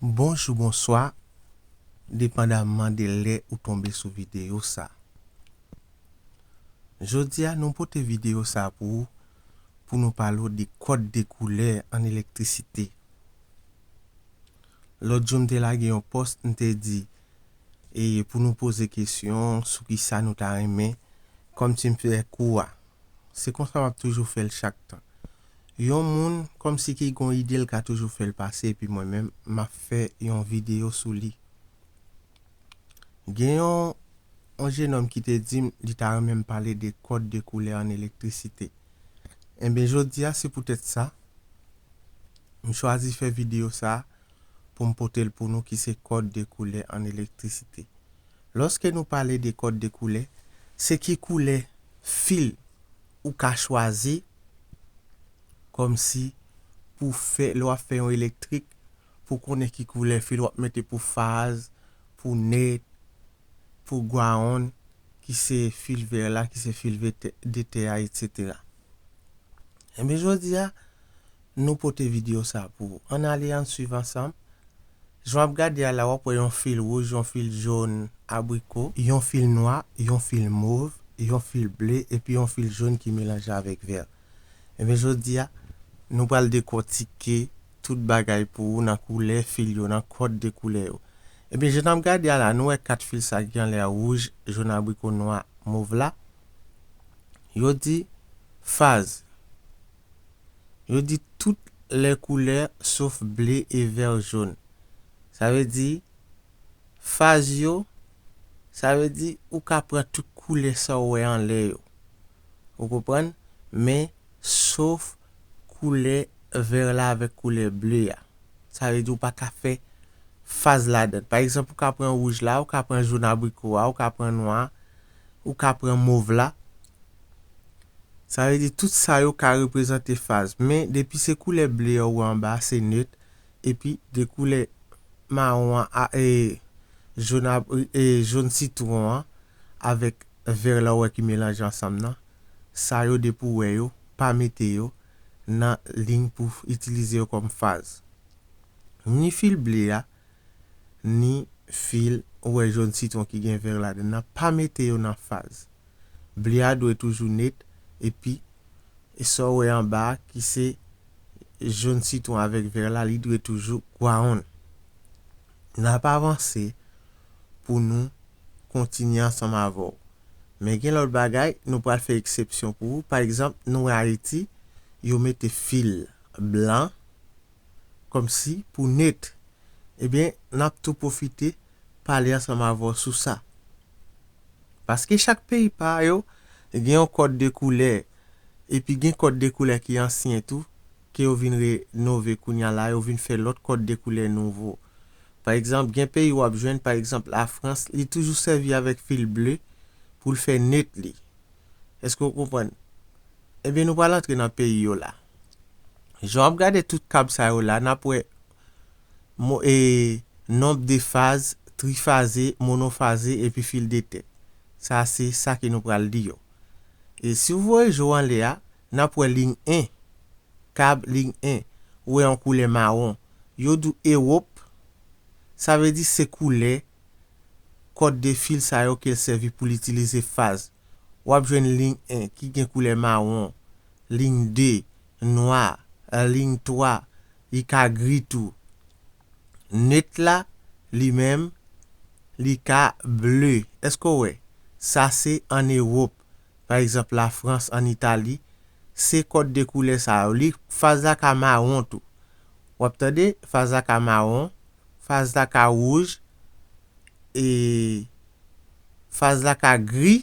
Bonjou bonswa depandaman de lè ou tonbe sou videyo sa jodia nou pote videyo sa pou ou pou nou pale w de kòd de koulè an elektrisite lòt jou m te lage yon pòs m te di e pou nou poze kesyon sou kisa nou ta renmen kòm ti m fè kou a. Se konsa m ap toujou fè l chak tan. Yon moun kòm si ki gon ide l ka toujou fè l pase epi mwen menm m ap fè yon videyo sou li. Gen yon yon jenòm ki te di m li ta renmen m pale de kòd de koulè ann elektrisite. Enben jodi a se poutèt sa m chwazi fè videyo sa. pou m pote l pou nou ki se kòd de koulè an elektrisite. Lòske nou pale de kòd de koulè, se ki koulè fil ou ka chwazi kòm si pou fè lè w ap fè yon elektrik pou w konnen ki koulè fil w ap mete pou faz, pou net, pou gwaonn ki se fil vè la ki se fil de tè a etc. Enben jodi a. Nou pote video sa pou ou. Ann ale ann swiv ansanm. Jan w ap gade a la w ap wè yon fil wouj, yon fil jón, abriko, yon fil nwa, yon fil mov, yon fil ble epi yon fil jón ki melanje avèk vè enben jodi a nou pral dekòtike tout bagay pou ou nan koulè fil yo nan kòd de koulè yo enben jan n ap gade a la nou wè 4 fil sa ki anlè a wouj, jón, abriko, nwa, mov la yo di faz. Yo di tout lè koulè sof ble e vè jon. Sa vle di faz yo, sa vle di ou ka pran tout koulè sa w wè anlè yo. Ou konprann? Men sof koulè vè la avèk koulè ble a. Sa vle di ou pa ka fè faz ladan. Pa egzanp ou ka pran wouj la, ou ka pran jon abriko a, ou ka pran nwa a. Ou ka pran mov la. Sa vle di tout sa yo ka reprezante faz. Men depi se koulè ble a ou wè anba a se neut. Epi de koulè mawon an a e jaune a e jaune citron an avèk vert la ou wè ki melanje ansanm nan. Sa yo depi ou wè yo, pa mete yo nan ligne pou itilize yo kòm faz. Ni fil ble a. ni fil ou wè jòn sitwon ki gen vè ladann nan pa mete yo nan faz. Ble a dwe toujou net epi e sa w wè anba a ki se jòn sitwon avèk vè la li dwe toujou gwawonn. N ap avanse pou nou kontinye ansanm avè w. Men gen lòt bagay nou pral fè eksepsyon pou ou pa egzanp nou wè Ayiti yo mete fil blan, kòmsi pou net ebyen nap tou pwofite pale ansanm avè w sou sa paske chak peyi pa yo gen yon kòd de koulè epi gen kòd de koulè ki ansyen tou ke yo vin re nove kounya la yo vin fè lòt kòd de koulè nouvo pa egzanp gen peyi wap jwenn pa egzanp la frans li toujou sèvi avèk fil ble pou l fè net li èske w konprann ebyen nou pral antre nan peyi yo la. Jan wap gade tout kab sa yo la nap wè Nomb de faz, trifaze, monofaze epi fil de tèt. Sa se sa ke nou pral li yo. E si ou voye je w anlè a, nap wè ling 1, kab ling 1, ou wè yon koulè mawon. Yo di w Ewop, sa vle di se koulè kòd de fil sa yo ke l sèvi pou l itilize faz. Wap jwenn ling 1 ki gen koulè mawon. Lign 2, nwa, lign 3, li ka gri tou. Neutre la, li menm, li ka ble. Èske w wè? Sa se ann Ewop. Pa egzanp, Lafrans, ann Itali, se kòd de koulè sa yo. Li, faz la ka mawon tou. W ap tande? Faz la ka mawon, faz la ka wouj, e faz la ka gri.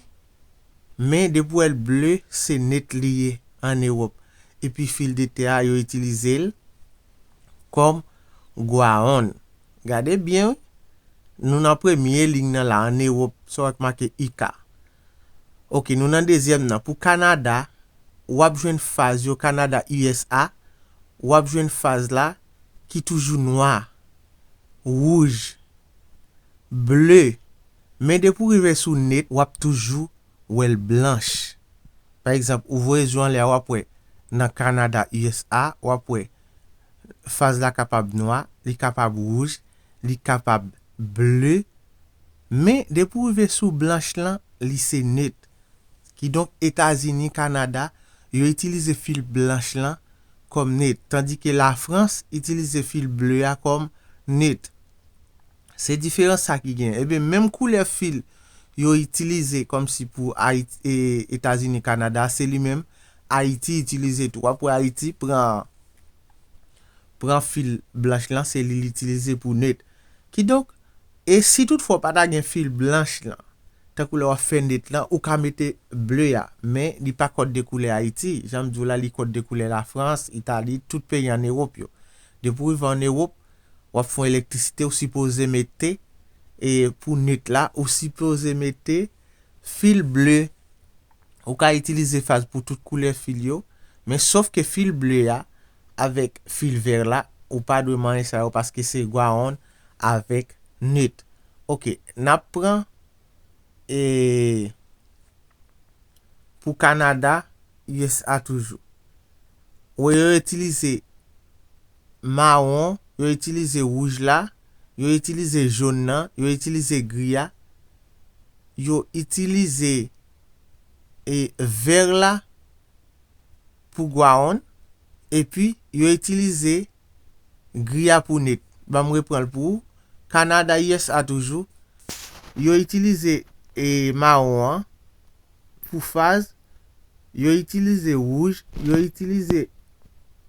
Men depi w wè l ble se net li ye an Ewòp epi fil de tè a yo itilize l kòm Gwaonn. Gade byen wi, nou nan premye liy nan la an Ewòp sa w wè k make IK. Ok nou nan dezyèm nan pou Kanada w ap jwenn faz yo Kanada usa w ap jwenn faz la ki toujou nwa, wouj, ble. Men depi w rive sou net w ap toujou wè l blanch. Pa egzanp, ou voye zye w anlè a w ap wè nan Kanada, usa, w ap wè faz la kapab nwa, li kapab wouj, li kapab ble. Men depi w rive sou blanch lan, li se net. Kidonk Etazini, Kanada, yo itilize fil blanch lan kòm net. Tandike Lafrans itilize fil ble a kòm net. Se diferans sa ki gen. Ebyen menm koulè fil yo itilize kòmsi pou Etazini Kanada se li menm Ayiti itilize tou. Wap wè Ayiti pran pran fil blanch lan se li li itilize pou net. Kidonk e si tout fwa w pa ta gen fil blanch lan tankou lè wap fè net lan ou ka mete ble a men li pa kòd de koulè Ayiti janm di w la li kòd de koulè Lafrans, Itali, tout peyi an Ewop yo. Depi w rive an Ewop. wap fon elektrisite ou sipoze mete e pou nwit la ou sipoze mete fil ble ou ka itilize faz pou tout koulè fil yo men sof ke fil ble a avèk fil vèr la ou pa dwe manye sa yo paske se gwaonn avèk nwit ok nap pran e pou kanada usa toujou. Wè yo itilize mawon, yo itilize wouj la, yo itilize jaune nan, yo itilize gris a, yo itilize e vert la pou gwaonn epi yo itilize. Griya pou net. Ban m repran l pou ou. Kanada, usa toujou, yo itilize e mawon an pou faz, yo itilize wouj, yo itilize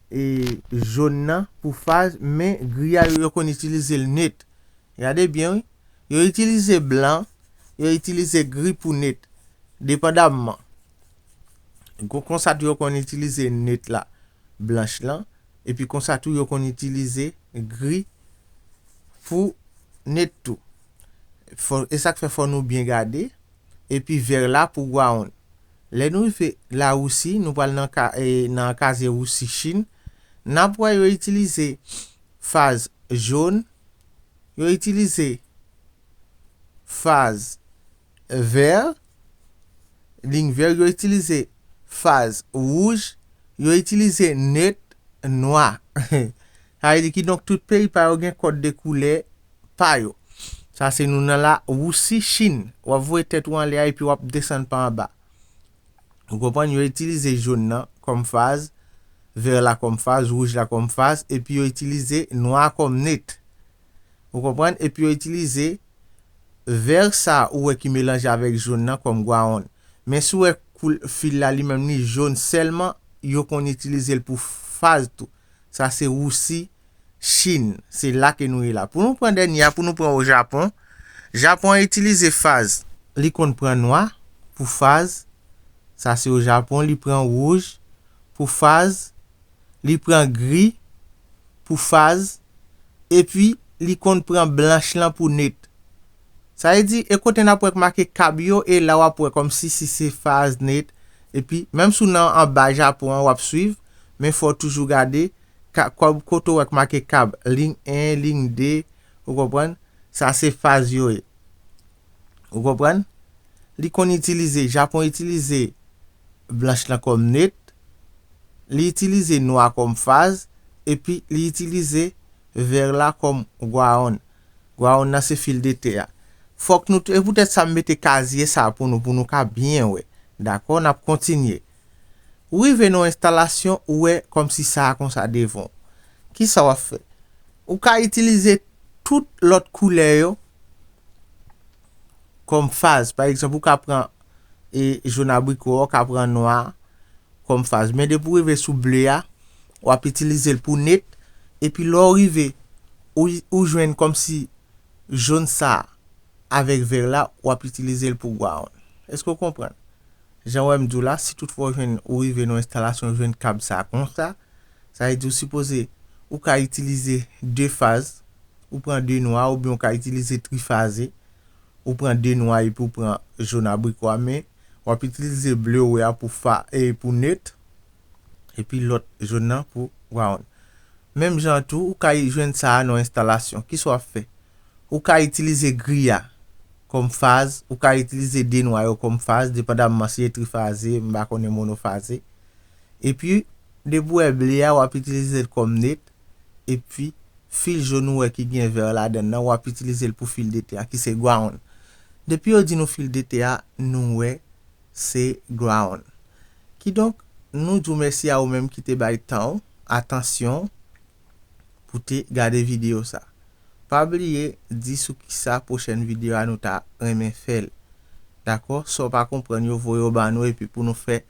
e jòn nan pou faz men griya yo, yo konn itilize l net. Gade byen wi. Yo itilize blan, yo itilize gri pou net. Depandamman. Konsa tou yo konn itilize net la, blanch lan. epi konsa tou yo konn itilize gri pou net tou esak fè fò nou byen gade epi vèr la pou ground lè nou rive lawousi nou pral nan nan kazye wousi chin nap wè yo itilize faz jaune yo itilize faz. vèr, liy vèr yo itilize faz wouj, yo itilize net nwa. Sa vle di kidonk tout peyi pa yo gen kòd de koulè pa yo. Sa se nou nan la wousi, chin. W ap voye tèt ou anlè a epi w ap desann pa anba. Ou konprann? Yo itilize jòn nan kòm faz, vèr la kòm faz, wouj la kòm faz epi yo itilize nwa a kòm net. Ou konprann? Epi yo itilize Vert sa ou wè ki melanje avèk jaune nan kòm gwaonn. Men si w wè koul fil la li menm li jaune sèlman yo konn itilize l pou faz tou. Sa se Rousi, Chin. Se la ke nou ye la. Pou nou pran dènye a pou nou pran o Japon. Japon an itilize faz. Li konn pran nwa pou faz. Sa se o Japon li pran rouj pou faz. Li pran gri pou faz, epi li konn pran blanch lan pou net. Sa vle di, e kote nap wè k make kab yo e la wap wè kòmsi si se faz, net, epi menm si w nan anba Japon an wap swiv, men fò w toujou gade ka kòb kote w wè k make kab, lign 1, lign 2, ou konprann, sa se faz yo ye. Ou konprann? Li konn itilize, Japon itilize blanch lan kòm net, li itilize nwa kòm faz, epi li itilize vèr la kòm gwaonn. Gwaonn nan se fil de tè a. Fòk nou, e poutèt sa m mete kazye sa pou nou, pou nou ka byen wè. Dakò? N ap kontinye. Ou rive nan yon enstalasyon ou wè kòmsi sa a konsa devan w. Kisa w ap fè? Ou ka itilize tout lòt koulè yo kòm faz. Pa egzanp, ou ka pran jòn abriko a, ou ka pran nwa a kòm faz. Men depi w rive sou ble a, w ap itilize l pou net. Epi lè w rive, ou jwenn kòmsi jòn sa a avèk vè la, w ap itilize l pou gwawoun. Èske w konprann? Jan wè m di w la, si tout fwa w jwenn ou rive nan yon enstalasyon ou jwenn kab sa konsa, sa vle di ou sipoze ou ka itilize 2 faz, ou pran 2 nwa oubyen ou ka itilize trifaze, ou pran 2 nwa epi ou pran jón abriko a men w ap itilize ble ou wè a pou fa pou neut. epi lòt jòn nan pou Ground. Menm jan an tou, ou ka jwenn sa a nan yon enstalasyon. Kisa w ap fè? Ou ka itilize gri a kòm faz, ou ka itilize de nwa yo kòm faz, depandamman si e trifaze, m pa konnen monofaze. Epi, depi w wè ble a, w ap itilize l kòm net, epi fil jòn ou wè ki gen vè ladan l nan, w ap itilize l pou fil dete a ki se Ground. Depi yo di nou fil dete a, nou wè se Ground. Kidonk, nou di w mèsi a ou menm ki te bay tan w, atansyon w, pou te gade videyo sa. Pa bliye di sou kisa pwochèn videyo a nou ta renmen fè l. Dakò? Sa w pa konprann yo voye yo ba nou epi pou nou fè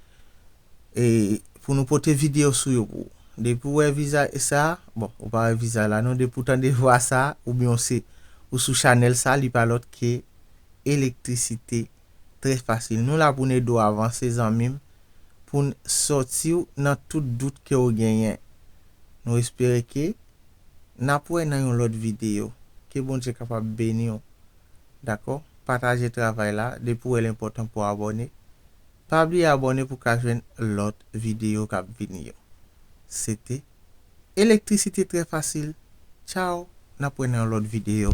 e pou nou pote videyo sou yo pou ou. Depi w wè vizaj e sa a, bon, ou pa wè vizaj la non, depi w tande vwa sa a oubyen w se ou sou chanèl sa a li pa lòt ke Elektrisite TV. trè fasil nou la poun edew avanse zanmim poun sòtiw nan tout dout kew genyen nou espere ke nap wè nan yon lòt video ke Bondye kapab beniw dakò pataje travay la depi wèl enpòtan pou abòne pa bliye abòne pou ka jwenn lòt video kap vini yo sete elektrisite trè fasil tchaww nap wè nan yon lòt video.